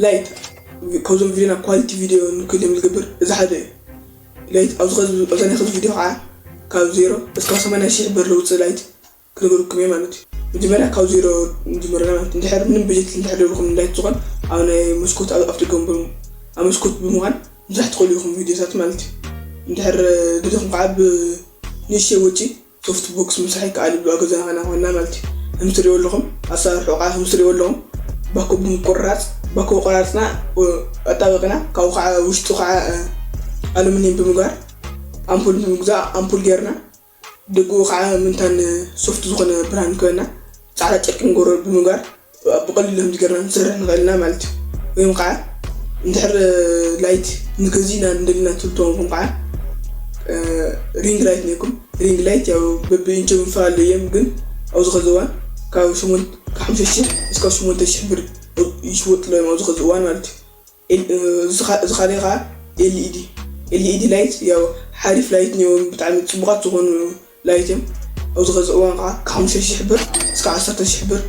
ላይት ካብዞም ቪድዮና ኳሊቲ ቪድዮ ንክህልዮም ዝገብር እዚ ሓደ እዩ። ላይት ኣብዚ ከዚ ኣብዛ ናይ ከዚ ቪድዮ ከኣ ካብ ዜሮ እስካብ ሰማንያ ሽሕ ብር ለውጺ ላይት ክነግረኩም እየ ማለት እዩ። መጀመርያ ካብ ዜሮ ንጅምር ኣለና ማለት እንድሕር ምንም በጀት እንድሕር ደልኩም ንላይት ዝኾን ኣብ ናይ መስኮት ኣብ ኣፍደገ ወንበር ኣብ መስኮት ብምዃን ምስራሕ ትኽእሉ ኢኹም ቪድዮታት ማለት እዩ። እንድሕር ደሊኹም ከኣ ብ ንእሽተይ ወጪ ሶፍት ቦክስ ምስራሕ ይከኣል እዩ ኣብ ገዛና ከይና ኮይና ማለት እዩ ከምቲ ትሪእዎ ኣለኹም ኣሰራርሑ ከዓ ከምቲ ትሪእዎ ኣለኹም ባኮ ብምቁርራፅ ባኮ ቆራርፅና ኣጣበቅና ካብኡ ከዓ ውሽጡ ከዓ ኣሉሚኒየም ብምግባር ኣምፑል ብምግዛእ ኣምፑል ጌርና ደጉኡ ከዓ ምንታን ሶፍት ዝኾነ ብርሃን ክበና ፃዕዳ ጨርቂ ንገብሮ ብምግባር ብቐሊሉ ከምዚ ገርና ክንሰርሕ ንኽእል ኢና ማለት እዩ ወይም ከዓ እንድሕር ላይት ንገዝእ ኢና እንደልና ትብሉ ተኾንኩም ከዓ ሪንግ ላይት ነይኩም ሪንግ ላይት ያው በብኢንቸ ምፋል እዮም ግን ኣብዚ ከዚ እዋን ካብ ሸሞንተ ካብ ሓምሳ ሽሕ እስካብ ሸሞንተ ሽሕ ብር ይሽወጥሎ እዮም ኣብዚ ከዚ እዋን ማለት እዩ እዚ ካልእ ከዓ ኤልኢዲ ኤልኢዲ ላይት ያው ሓሪፍ ላይት ነይዎም ብጣዕሚ ፅቡቓት ዝኾኑ ላይትም ኣብዚ ኸዚ እዋን ከኣ ካብ ሓሙሽተ ሽሕ ብር እስካብ ዓሰርተ ሽሕ ብር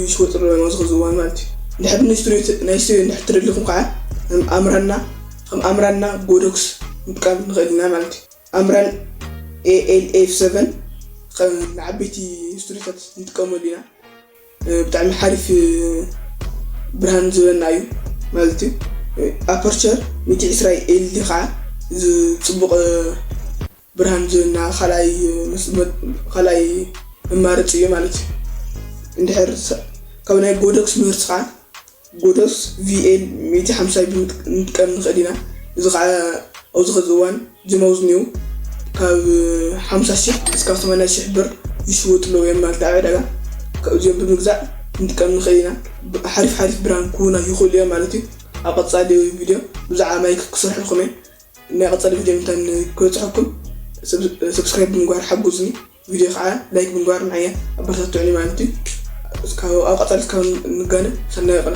ይሽወጥሉ ኣለው ኣብዚ ኸዚ እዋን ማለት እዩ እንድሕር ናይ ስትሪዮ ናይ ስትሪዮ እንድሕር ተደሊኹም ከኣ ከም ኣምራና ከም ኣምራና ጎዶክስ ምጥቃም ንኽእል ኢና ማለት እዩ ኣምራን ALF seven ከም ንዓበይቲ ስትሪታት ንጥቀመሉ ኢና ብጣዕሚ ሓሪፍ ብርሃን ዝበና እዩ ማለት እዩ ኣፐርቸር ሚእቲ ዕስራ ኤልዲ ከዓ ዝፅቡቅ ብርሃን ዝብና ካልኣይ መማረፂ እዩ ማለት እዩ። እንድሕር ካብ ናይ ጎዶክስ ምህርቲ ከዓ ጎዶክስ ቪኤል ሚእቲ ሓምሳ ክንጥቀም ንኽእል ኢና። እዚ ከዓ ኣብዚ ሕዚ እዋን ጅማውዝን እዩ ካብ ሓምሳ ሽሕ እስካብ ሰማንያ ሽሕ ብር ይሽወጡ ኣለዉ እዮም ማለት ኣብ ዕዳጋ ካብዚኦም ብምግዛእ ክንጥቀም ንኽእል ኢና። ሓሪፍ ሓሪፍ ብርሃን ክህቡና ይኽእሉ እዮም ማለት እዩ። ኣብ ቀፃሊ ቪድዮ ብዛዕባ ማይ ክሰርሐልኩም እየ። ናይ ቀጻሊ ቪድዮ እንታይ ንክበጽሐኩም ሰብስክራይብ ብምግባር ሓጉዙኒ ቪድዮ ከኣ ላይክ ብምግባር ንዓያ ኣበረታቱዑኒ ማለት እዩ እስካብ ኣብ ቀጻሊ እስካብ ንጋነ ሰናይ ቀነ።